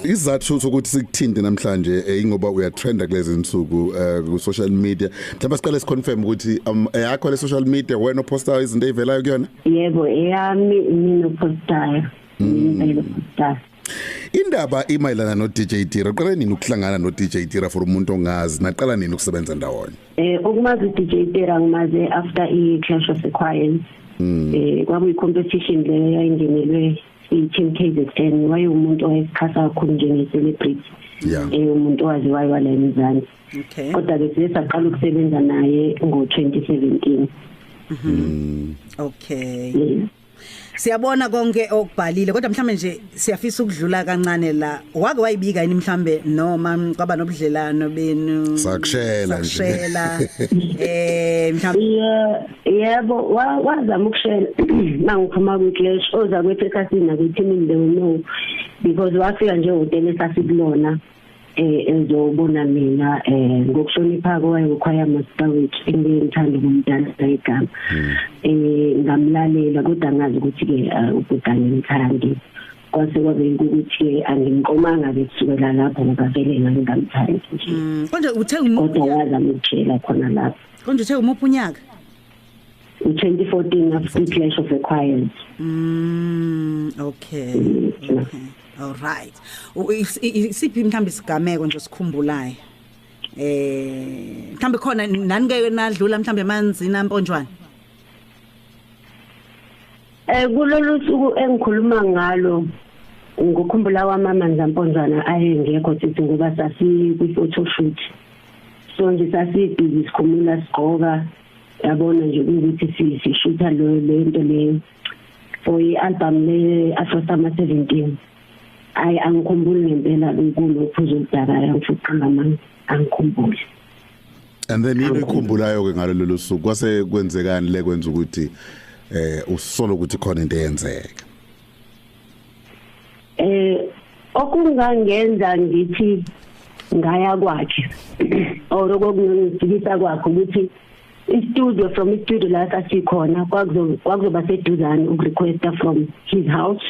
Isizathu sokuthi sikuthinte namhlanje eh, ingoba uyatrenda kulezi insuku eh, ku social media. Mhlawumbe siqale si confirm ukuthi um, yakho le social media wena opostayo izinto ezivelayo kuyona? Yebo, eyami mina opostayo. Mm. Mina opostayo. Indaba imayelana no DJ Tira. Uqale nini ukuhlangana no DJ Tira for umuntu ongazi? Naqala nini ukusebenza ndawonye? Eh ukumazi DJ Tira ngimaze after i Clash of the Choirs. Mm. Eh kwakuyi competition leyo yayingenelwe i-team k z n wayewumuntu owayesixhasa kakhulu njenge-celebrity yeah. um umuntu owaziwayo wala emzansi okay. kodwa-ke size saqala ukusebenza naye ngo-twenty seventeen mhm. okay yeah. siyabona konke okubhalile kodwa mhlambe nje siyafisa ukudlula kancane la wake wayibika yini mhlambe noma kwaba nobudlelano benu sakushela nje sakushela eh mhlambe yebo wazama ukushela mangiphuma kwi-clash oza kwethu ekhasini nakwethimini they will know because wafika nje hotela esasikulona eh ezobona mina eh ngokuhlonipha kwayekhwaya master wethu engiyithanda kumntana igama hmm. eh ngamlalela kodwa ngazi ukuthi ke eh, ubhutane ngithandi kwase kwabe ukuthi angimqomanga ke kusukela lapho ngoba vele ngangingamthandi nje hmm. kodwa uthe kodwa wazama ukutshela khona lapho konje uthe umuphi unyaka u-2014 after clash of the choirs mm okay okay all right isiphi mhlawumbe isigameko nje sikhumbulayo eh mhlawumbe khona nani ke nadlula mhlawumbe emanzini amponjwana eh kulolu suku engikhuluma ngalo ngikukhumbula wamama Nzamponjwana ayengekho sithi ngoba sasi kwi photo shoot so nje sasibhizi sikhumula sigqoka yabona nje ukuthi sishutha lo lento leyo for i-album le afro summer 17 ayi angikhumbuli ngempela kulo phuzo udakaya ngifuqanga manje angikhumbuli and then yini ikhumbulayo ke ngalolu suku kwase kwenzekani le kwenza ukuthi eh usolo ukuthi khona into eyenzeka eh okungangenza ngithi ngaya kwakhe or okungifikisa kwakhe ukuthi istudio from istudio la sasikhona kwakuzoba seduzane ukurequesta from his house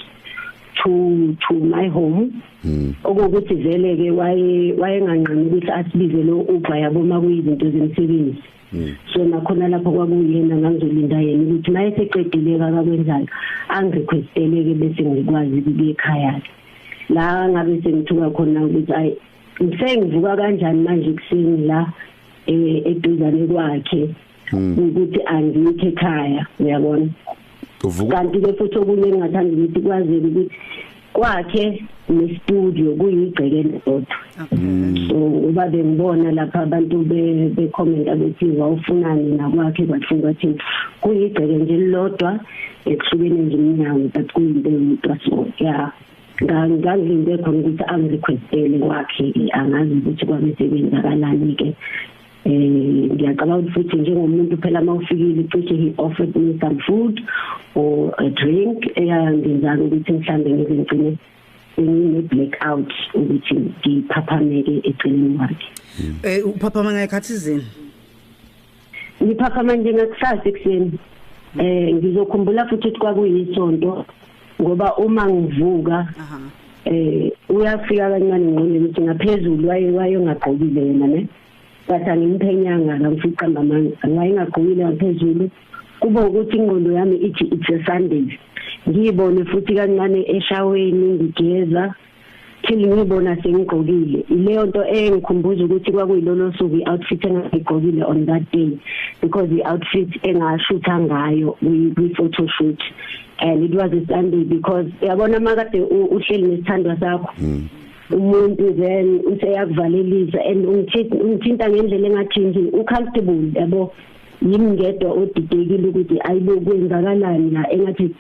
to to my home hmm. okuwukuthi vele ke waye wayenganqami ukuthi asibize lo Uber yabo makuyizinto zemsebenzi Hmm. so nakhona lapho kwakuyena ngangizolinda yena ukuthi maye seqedile kakakwenzayo angirequesteleke bese ngikwazi ukuya ekhaya la ngabe sengithuka khona ukuthi ayi ngisengivuka kanjani manje kuseni la eh, eduzane kwakhe hmm. ukuthi angikhe ekhaya uyabona kanti ke futhi okunye engingathanda ukuthi kwazeke ukuthi kwakhe nestudio kuyigceke lodwa mm. so uba bengibona lapha abantu bekhomenta bethi wawufunani nakwakhe kwathiwa ukuthi kuyigceke nje lilodwa ekuhlukene nje iminyango but kuyinto eyodwa so ya ngangilinde khona ukuthi angirequestele kwakhe angazi ukuthi kwabe sebenzakalani-ke eh ngiyacabanga ukuthi futhi njengomuntu phela mawufikile cishe he offered me some food or a drink eyangenza ukuthi mhlambe ngize ngicine ngine black out ukuthi ngiphaphameke eceleni kwakhe eh uphaphama ngayikhathi izini ngiphaphama nje ngakusasa ekuseni eh ngizokhumbula futhi ukuthi kwakuyisonto ngoba uma ngivuka aha eh uyafika kancane ngqondweni ukuthi ngaphezulu waye wayengagqokile yena ne bathi angimphenyanga ngamfica mamanga wayengagqokile ngaphezulu kube ukuthi ingqondo yami ithi it's a sunday ngiyibone futhi kancane eshaweni ngigeza phela ngibona sengigqokile ileyo nto engikhumbuza ukuthi kwakuyilolo suku i-outfit engayigqokile on that day because i-outfit engashutha ngayo kwi-photo shoot and it was a sunday because yabona makade uhleli nesithandwa sakho hmm. umuntu then useyakuvalelisa and ungithinta ngendlela engathi nje ucomfortable yabo yimi ngedwa odidekile ukuthi ayibo kwenzakalani la engathi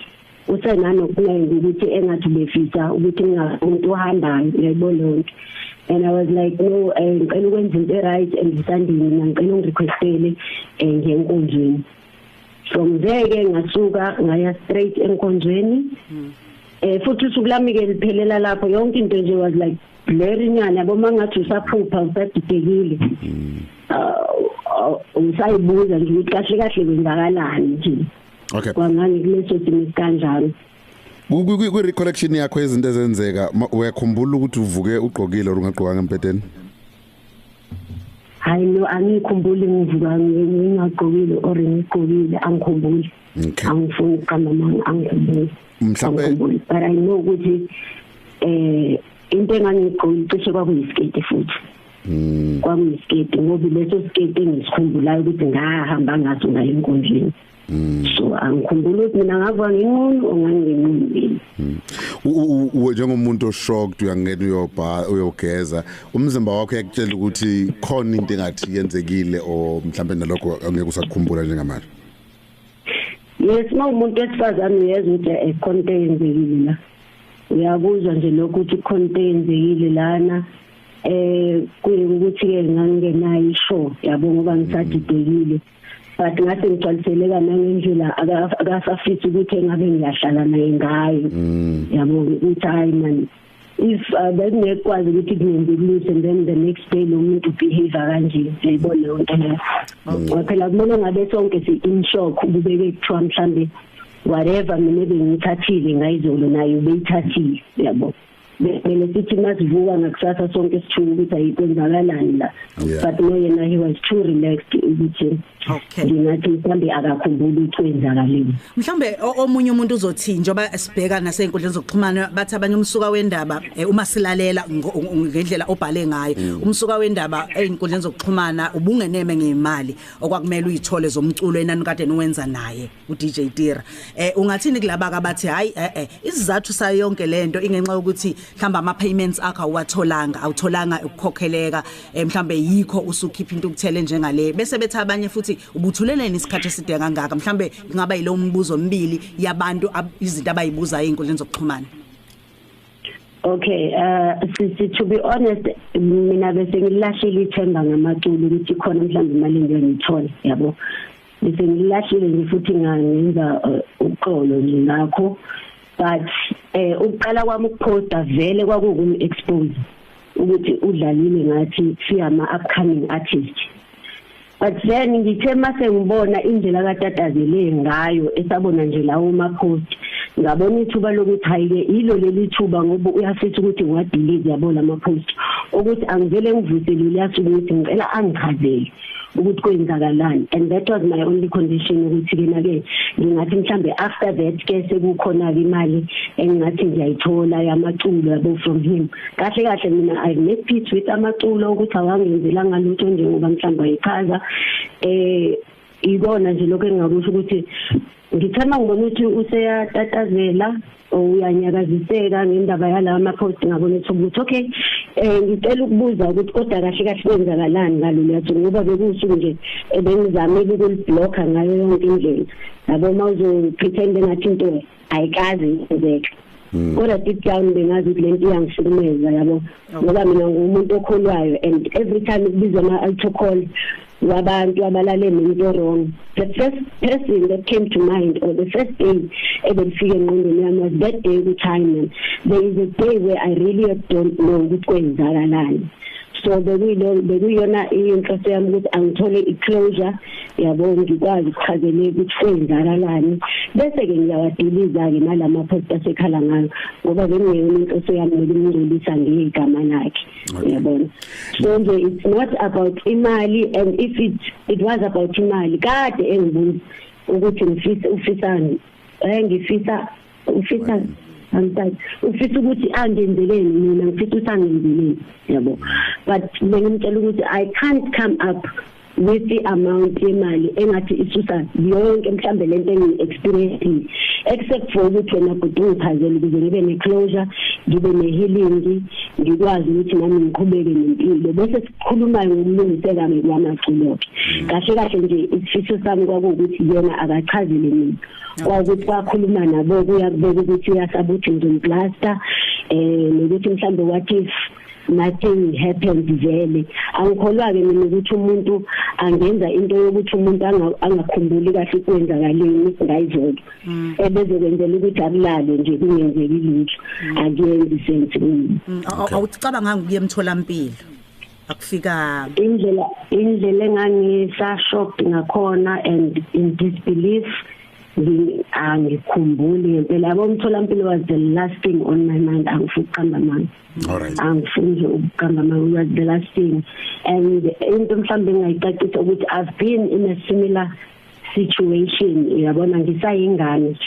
usenanokuningi ukuthi engathi befisa ukuthi ngingamuntu ohambayo yebo lonke and i was like no eh, ngicela ukwenza into right and isandini mina ngicela ungirequestele eh, ngenkonzweni from there ke ngasuka ngaya straight enkonzweni hmm. eh futhi usuku lami ke liphelela lapho yonke into nje was like blurry nyana yabo mangathi usaphupha usadidekile hmm. uh, uh, usayibuza nje ukuthi kahle kahle kwenzakalani nje okay kwangani kuleso simo kanjani kwi recollection yakho izinto ezenzeka uyakhumbula ukuthi uvuke ugqokile or ungagqokanga empedeni hayi no angikhumbuli ngivuka ngingagqokile or ngigqokile angikhumbuli angifuni ukuqamba manga angikhumbuli mhlawumbe but i know ukuthi eh into engangigqokile cishe kwakuyisiketi futhi Mm. Kwakuyisketi ngoba leso sketi engisikhumbulayo ukuthi ngahamba ngaso ngayo enkundleni. Mm. so angikhumbula ukuthi mina ngava nginqunu onganginqunile mm. uwe njengomuntu oshocked uyangena uyobha uyogeza umzimba wakho yakutshela ukuthi khona into engathi yenzekile o mhlambe nalokho angeke usakukhumbula njengamanje yes uma umuntu wesifazane uyeza ukuthi ekhona into eyenzekile la uyakuzwa nje lokho ukuthi khona into eyenzekile lana eh kuyikuthi ke ngangenayo isho yabo ngoba ngisadidekile but ngathi ngigcwaliseleka nangendlela akasafisi ukuthi engabe ngiyahlala naye ngayo mm. yabo ukuthi hayi mani if uh, bekungekwazi ukuthi kungenzikulise and then the next day lo muntu behave kanje yayibona leyo nto leyo ngoba phela kumele ngabe sonke si-in shock kubeke kuthiwa mhlawumbe whatever mina bengiyithathile ngayizolo naye ubeyithathile yabo bekumele sithi masivuka ngakusasa sonke sithuka ukuthi ayikwenzakalani la but no yena he was too relaxed ukuthi ngingathi mhlawumbe akakhumbuli ukuthi kwenzakalile mhlawumbe omunye umuntu uzothi njengoba sibheka nasenkundleni zokuxhumana bathi abanye umsuka wendaba eh, uma silalela ngendlela obhale ngayo mm. umsuka wendaba ezinkundleni zokuxhumana ubungeneme ngemali okwakumele uyithole zomculo enani kade niwenza naye uDJ Tira eh ungathini kulaba kabathi hayi eh eh isizathu sayo yonke lento ingenxa ukuthi mhlamba ama payments akho awatholanga awutholanga ukukhokheleka eh, mhlambe yikho usukhipha into ukuthele njengale bese bethi abanye futhi ubuthuleleni isikhathi eside kangaka mhlambe kungaba yilo umbuzo omibili yabantu izinto abayibuzayo inkundleni zokuxhumana Okay, uh sisi to be honest mina bese ngilahlile ithemba ngamaculo ukuthi khona mhlawumbe imali engiyonithola yabo. ngise ngilahlile nje futhi ngenza eh, uxolo nje ngakho but eh ukuqala kwami ukuposta vele kwakukumi expose ukuthi udlalile ngathi siyama upcoming artist but then ngithe mase ngibona indlela katatazele ngayo esabona nje lawo ma post ngabona ithuba lokuthi hayike yilo leli thuba ngoba uyafisa ukuthi ngiwadilize yabo lama post ukuthi angivele ngivuse leli yasuku ukuthi ngicela angichazele ukuthi kwenzakalani and that was my only condition ukuthi ke nake ngingathi mhlambe after that ke sekukhona ke imali engingathi ngiyayithola yamaculo yabo from him kahle kahle mina i make peace with amaculo ukuthi awangenzela ngalutho njengoba mhlambe ayichaza eh ikona nje lokho engingakusho ukuthi ngithanda ngibona ukuthi useyatatazela uyanyakaziseka ngendaba yalawa ma-post ngabona ukuthi ukuthi okay um ngicela ukubuza ukuthi kodwa kahle kahle kwenzakalani ngaloluyatho ngoba bekuwusuku nje ebengizamile ukulibhlokha ngayo yonke indlela yabo uma uzopretend engathi into ayikazi yenzeka Mm. kodwa deep down bengazi ukuthi lento iyangishukumeza yabo ngoba mina ngumuntu okholwayo and every time kubizwa ama altar call wabantu abalale nomuntu wrong the first person that came to mind or the first day ebelifike engqondweni yami was that day kuchina there is a day where i really don't know ukuthi kwenzakalani so bekuyilo bekuyona inhloso yami ukuthi angithole i-closure yabo ngikwazi ukuchazele ukuthi kwenzakalani bese ke ngiyawadiliza ke nalama post asekhala ngayo ngoba bengiyona umuntu oseyamela umngcolisa ngegama lakhe yabona so nje it's not about imali and if it it was about imali kade engibuza ukuthi ngifisa ufisani eh ngifisa ufisa angisathi ufisa ukuthi angenzeleni mina ngifisa ukuthi angenzeleni yabo but bengimtshela ukuthi i can't come up with the amount yemali engathi isusa yonke mhlambe lento engi experiencing except for ukuthi wena bhuti ungiphazele ukuze ngibe ne closure ngibe ne healing ngikwazi ukuthi nami ngiqhubeke nempilo bese sikhuluma ngokulungiseka ngikwamaculo kahle kahle nje isifiso sami kwakuwukuthi yena akachazele mina kwakuthi kwakhuluma nabo kuyakubeka ukuthi uyasabuthi ngizomplaster eh nokuthi mhlambe what if nothing happened vele angikholwa ke mina ukuthi umuntu angenza into yokuthi umuntu angakhumbuli kahle ukwenzakaleni ngayizolo mm. ebezokwenzela ukuthi akulale nje kungenzeki lutho mm. akuyenzi sense mm. awucabanga ngiyemtholampilo akufikanga indlela indlela engangisa shocked ngakhona and in disbelief angikhumbuli ngempela abomtholampilo was the last thing on my mind angifuqamba manje Alright. Angifuni nje ukuqamba amawula the last thing and into mhlambe engayicacisa ukuthi I've been in a similar situation yabona ngisayingane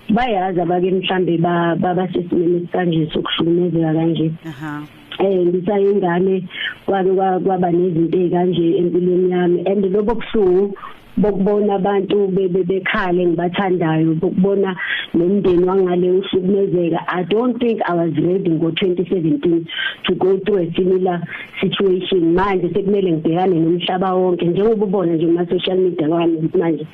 bayazi abake mhlambe baba sesimene sikanje sokuhlukumezeka kanje aha eh ngisayingane kwake kwaba nezinto ezikanje empilweni yami and lobo buhlungu bokubona abantu bebe bekhale ngibathandayo bokubona nomndeni wangale uhlukumezeka i don't think i was ready ngo 2017 to go through a similar situation manje sekumele ngibhekane nomhlaba wonke njengoba ubona nje kuma social media wami manje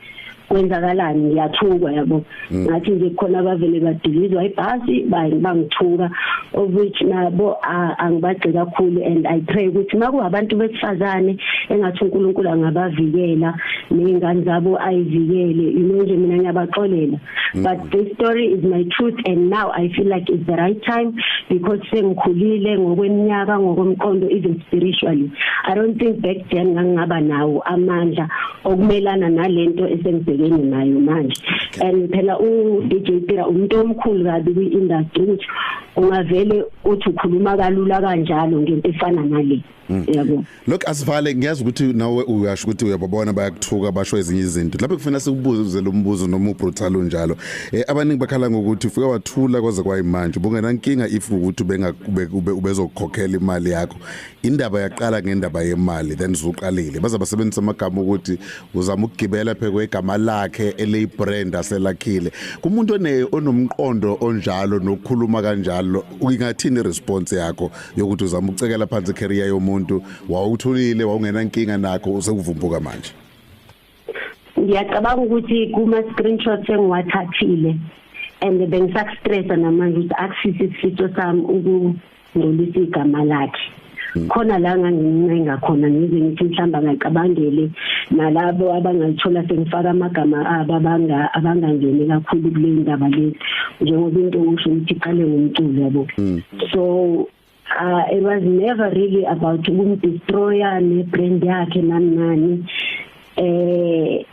kwenzakalani ngiyathukwa yabo Mm. ngathi nje khona abavele badilizwa ibhasi bangithuka of which nabo angibagci kakhulu and i pray ukuthi makuwabantu besifazane engathi uNkulunkulu angabavikela nezingane zabo ayivikele yini nje mina ngiyabaxolela mm. but this story is my truth and now i feel like it's the right time because sengikhulile ngokweminyaka ngokomqondo even spiritually i don't think back then ngangaba nawo amandla okumelana nalento esengibhekene nayo manje and phela u DJ Tira umuntu omkhulu kabi kwi industry ukuthi ungavele uthi ukhuluma kalula kanjalo ngento efana nale hmm. yabo look asivale ngiyazi ukuthi nawe uyasho ukuthi uyababona bayakuthuka basho ezinye izinto lapho kufanele sikubuze lo mbuzo noma ubrutal unjalo eh abaningi bakhala ngokuthi ufike wathula kwaze kwayimanje ubungena inkinga if ukuthi benga ubezokhokhela imali yakho indaba yaqala ngendaba yemali then zuqalile baza basebenzisa amagama ukuthi uzama ukugibela phekwe igama lakhe eliyibrand aselakhile kumuntu one onomqondo onjalo nokukhuluma kanjalo ingathini response yakho yokuthi uzama ukucekela phansi career yomuntu wawuthulile wawungena inkinga nakho usekuvumbhuka manje ngiyacabanga ukuthi kuma screenshots engiwathathile and bengisakustressa namanje ukuthi akusisi isifiso sami ukungcolisa igama lakhe Mm. khona la ngangincenga khona ngize ngithi mhlamba ngacabangele nalabo abangalithola sengifaka amagama abo abanga abangangeni kakhulu kule ndaba le njengoba into usho ukuthi iqale ngomculo yabo mm. so uh, it was never really about ukumdestroya ne-brand yakhe nani nani eh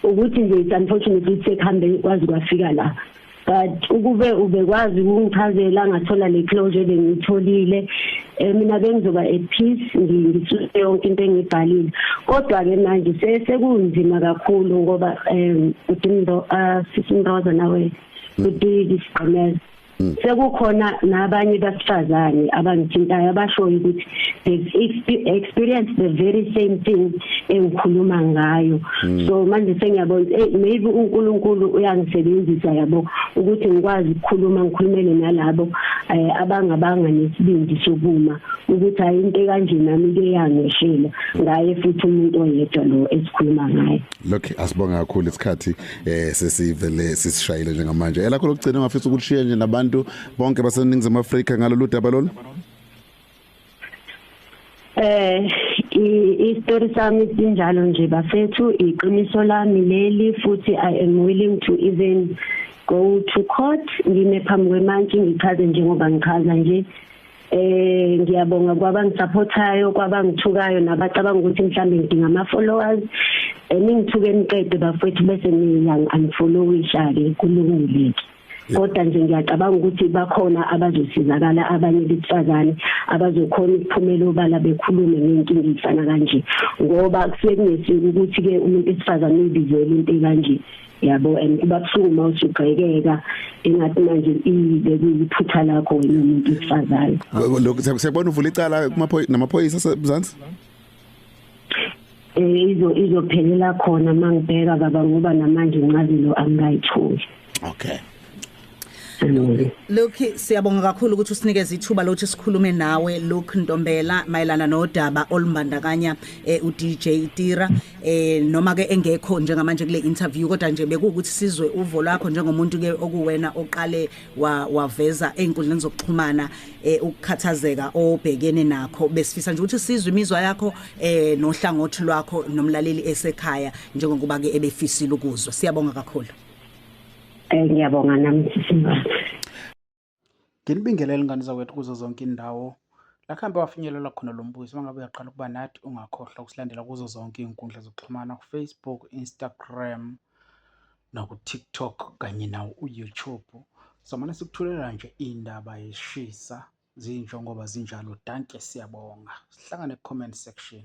ukuthi nje it's unfortunately sekuhambe kwazi kwafika la but ukube ubekwazi ukungichazela ngathola le closure bengitholile eh, mina bengizoba at peace ngisuse yonke into engibhalile kodwa ke manje sekunzima kakhulu ngoba um udimdo uh, sisimroza nawe udidi sigqemeza Mm. sekukhona nabanye basifazane abangithintayo abashoyo ukuthi they've experienced the very same thing engikhuluma ngayo mm. so manje sengiyabona eh, maybe uNkulunkulu uyangisebenzisa yabo ukuthi ngikwazi ukukhuluma ngikhulumele nalabo eh, abangabanga nesibindi sokuma ukuthi hayi into kanje nami kuyangishela ngaye futhi umuntu oyedwa lo esikhuluma ngaye lokho asibonga kakhulu isikhathi eh sesivele sisishayile njengamanje elakho lokugcina ngafisa ukulishiya nje nabantu bonke baseningizimu Afrika ngalolu daba lolu Eh istory sami sinjalo nje bafethu iqiniso lami leli futhi I am willing to even go to court ngime phambi kwemantshi ngichaze njengoba ngichaza nje Eh ngiyabonga kwabangisupportayo kwabangithukayo nabacabanga ukuthi mhlambe ngidinga ama followers eningithuke eh, niqede bafethu bese niyang unfollowisha ke kulungile ke kodwa nje ngiyacabanga ukuthi bakhona abazosizakala abanye besifazane abazokhona ukuphumela obala bekhulume ngenkinga efana kanje ngoba kusuke kungesuku ukuthi ke umuntu esifazane uyibizele into kanje yabo and kuba buhlungu uma usugqekeka engathi manje ibe kuyiphutha lakho wena umuntu wesifazane lokho siyabona uvula icala kumaphoyisa namaphoyisa semzansi eh izo izophelela khona mangibheka baba ngoba namanje incazelo angayitholi okay Look siyabonga kakhulu ukuthi usinikeze ithuba lokuthi sikhulume nawe Luke Ntombela mayelana nodaba olumbandakanya eh, uDJ Tira eh noma ke engekho njengamanje kule interview kodwa nje bekuwukuthi sizwe uvo lwakho njengomuntu ke okuwena oqale waveza einkundleni zokuxhumana eh, ukukhathazeka obhekene nakho besifisa nje ukuthi sizwe imizwa yakho eh nohlangothi lwakho nomlaleli esekhaya njengokuba ke ebefisile ukuzwa siyabonga kakhulu Eh ngiyabonga nami sisimama. Nginibingelele ngane zakwethu kuzo zonke indawo. La kuhambe wafinyelela khona lo mbuzo uma ngabe uyaqala ukuba nathi ungakhohlwa ukusilandela kuzo zonke iy'nkundla zokuxhumana ku-Facebook, Instagram naku-TikTok kanye nawo u-YouTube. Samane sikuthulela nje iy'ndaba yeshisa zinjengoba zinjalo. Dankie siyabonga. Sihlangane ku-comment section.